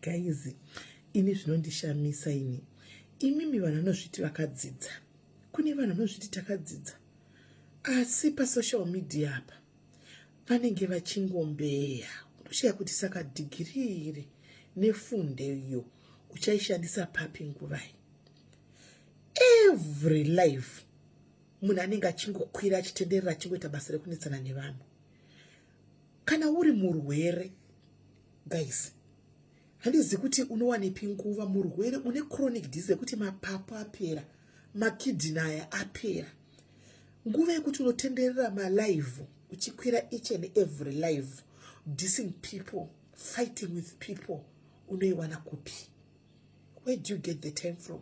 guys ini zvinondishamisa ini imimi vanhu vanozviti vakadzidza kune vanhu vanozviti takadzidza asi pasocial media apa vanenge vachingombeya unoshaya kuti saka dhigiri iri nefunde iyo uchaishandisa papi nguvai every life munhu anenge achingokwira achitenderera achingoita basa rekunetsana nevanhu kana uri murwere guys handizi kuti unowanepi nguva murwere une chronic disease yekuti mapapu apera makidini aya apera nguva yekuti unotenderera malive uchikwira each and every live dissing people fighting with people unoiwana kupi where do you get the time from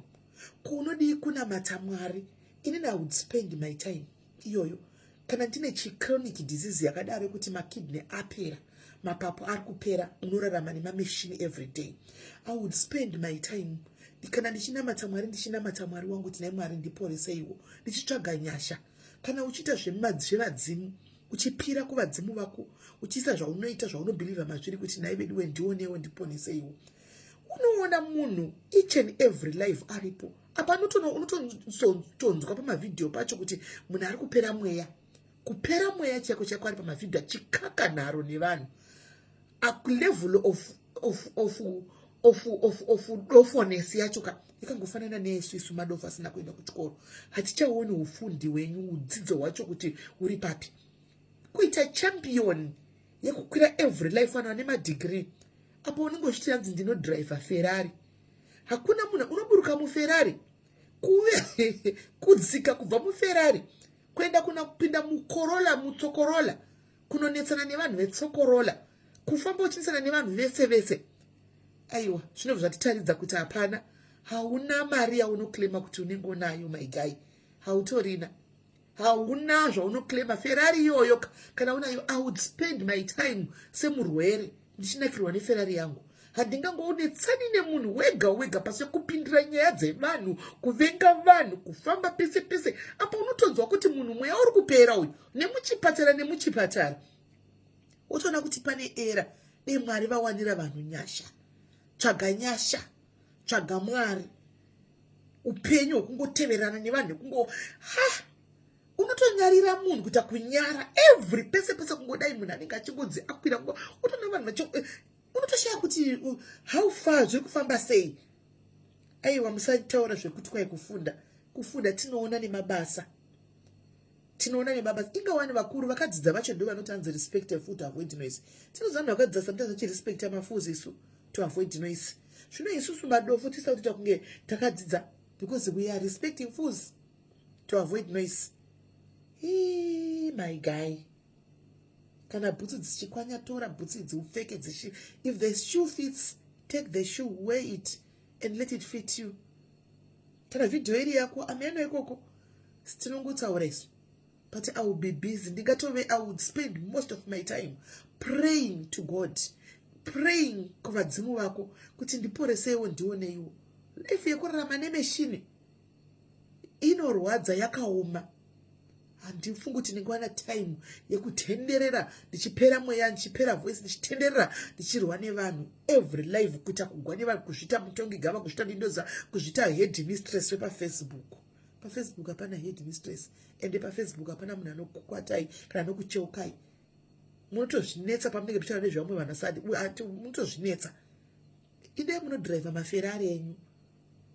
ko unodii kunamata mwari inini i would spend my time iyoyo kana ndine chichronic disease yakadaro yekuti makidney apera mapapu ari kupera unorarama nemameshini every day i would spend my time kana ndichinamata mwari ndichinamata mwari wangu kuti nai mwari ndiporeseiwo ndichitsvaga nyasha kana uchiita zvevadzimu uchipira kuvadzimu vako uchiisa zvaunoita zvaunobhilivha mazviri kuti nai veduwe ndionewo ndiponeseiwo unoona munhu each and every life aripo apa unotonzwa pamavhidhiyo pacho kuti munhu ari kupera mweya kupera mweya chaiko chaiko ari pamavhidhiyo achikaka nharo nevanhu akulevel of, of, of, of, of, of dofones yacho ka ikangofanana neesu isu madofo asina kuenda kuchikoro hatichaoni ufundi wenyu udzidzo hwacho kuti uri papi kuita champion yekukwira every life vanhu vane madigiri apo unenge uchiti yanzi ndinodriver ferrari hakuna munhu unoburuka muferari kuve kudzika kubva muferari kuenda kuna kupinda mukorola mutsokorola kunonetsana nevanhu vetsokorola kufamba uchinetsana nevanhu vese vese aiwa zvinobva zvatitaridza kuti hapana hauna mari yaunoclaima kuti unenge unayo maigai hautorina hauna zvaunoclaima ferrari iyoyo kana unayo i would spend my time semurwere ndichinakirwa neferrari yangu handingangoonetsani nemunhu wega wega pasi kupindira nyaya dzevanhu kuvenga vanhu kufamba pese pese apa unotonzwa kuti munhu mweya uri kupera uyu nemuchipatara nemuchipatara wotoona kuti pane era dei mwari vawanira vanhu nyasha tsvaga nyasha tsvaga mwari upenyu hwekungoteverana nevanhu kungo ha unotonyarira munhu kuita kunyara every pese pese kungodai munhu anenge achingonzi akwira kungo utoona vanhu vachi eh, unotoshaya kuti uh, how far zviri kufamba sei aiwa musataura zvekuti kwai kufunda kufunda tinoona nemabasa tinoona nebaba inga wani vakuru vakadzidza vacho ndo vanoti anzi respect a fool to avoid noise tinoziva vanhu vakadzidza sometimes vachi respect amafoos isu to avoid noise zvino isusu madofo tisita kuti takunge takadzidza because we are respecting fools to avoid noise Hii, my guy kana bhutsu dzichikwanya tora bhutsu idzi upfeke dzishi if the shoe fits take the shoe wear it and let it fit you tara vhidhiyo iri yako ameno ikoko sitinongotaura isu but i will be busy ndingatove i would spend most of my time praying to god praying kuvadzimu vako kuti ndiporeseiwo ndioneiwo life yekurarama nemeshini inorwadza yakaoma handifungi kuti ndinge wana time yekutenderera ndichipera mweya ndichipera voice ndichitenderera ndichirwa nevanhu every live kuita kugwa nevanhu kuzvita mutongi gava kuzvita ndindoza kuzvita head mistress wepafacebook pafacebook hapana head mistress ende pafacebook hapana munhu anokukwatai kana anokucheukai munotozvinetsa pamunenge muchitaura nezvevamwe vanhu asadi munotozvinetsa idai munodriver maferari enyu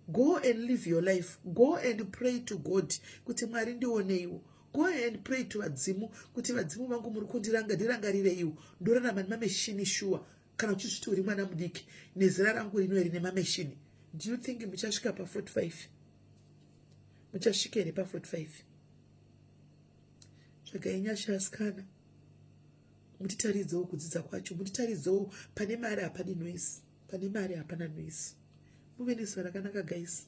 go and live your life go and pray to god kuti mwari ndioneiwo go and pray to vadzimu kuti vadzimu vangu muri kundiranga ndirangarireiwo ndorarama nemameshini shuwa kana uchizviti uri mwana mudiki nezera rangu rino iri nemameshini do you think muchasvika pa 45 muchasvika here pa 45 tsvagai nyasha asikana mutitaridzewo kudzidza kwacho mutitaridzewo pane mari hapane noise pane mari hapana noise muve nezuva rakanaka guys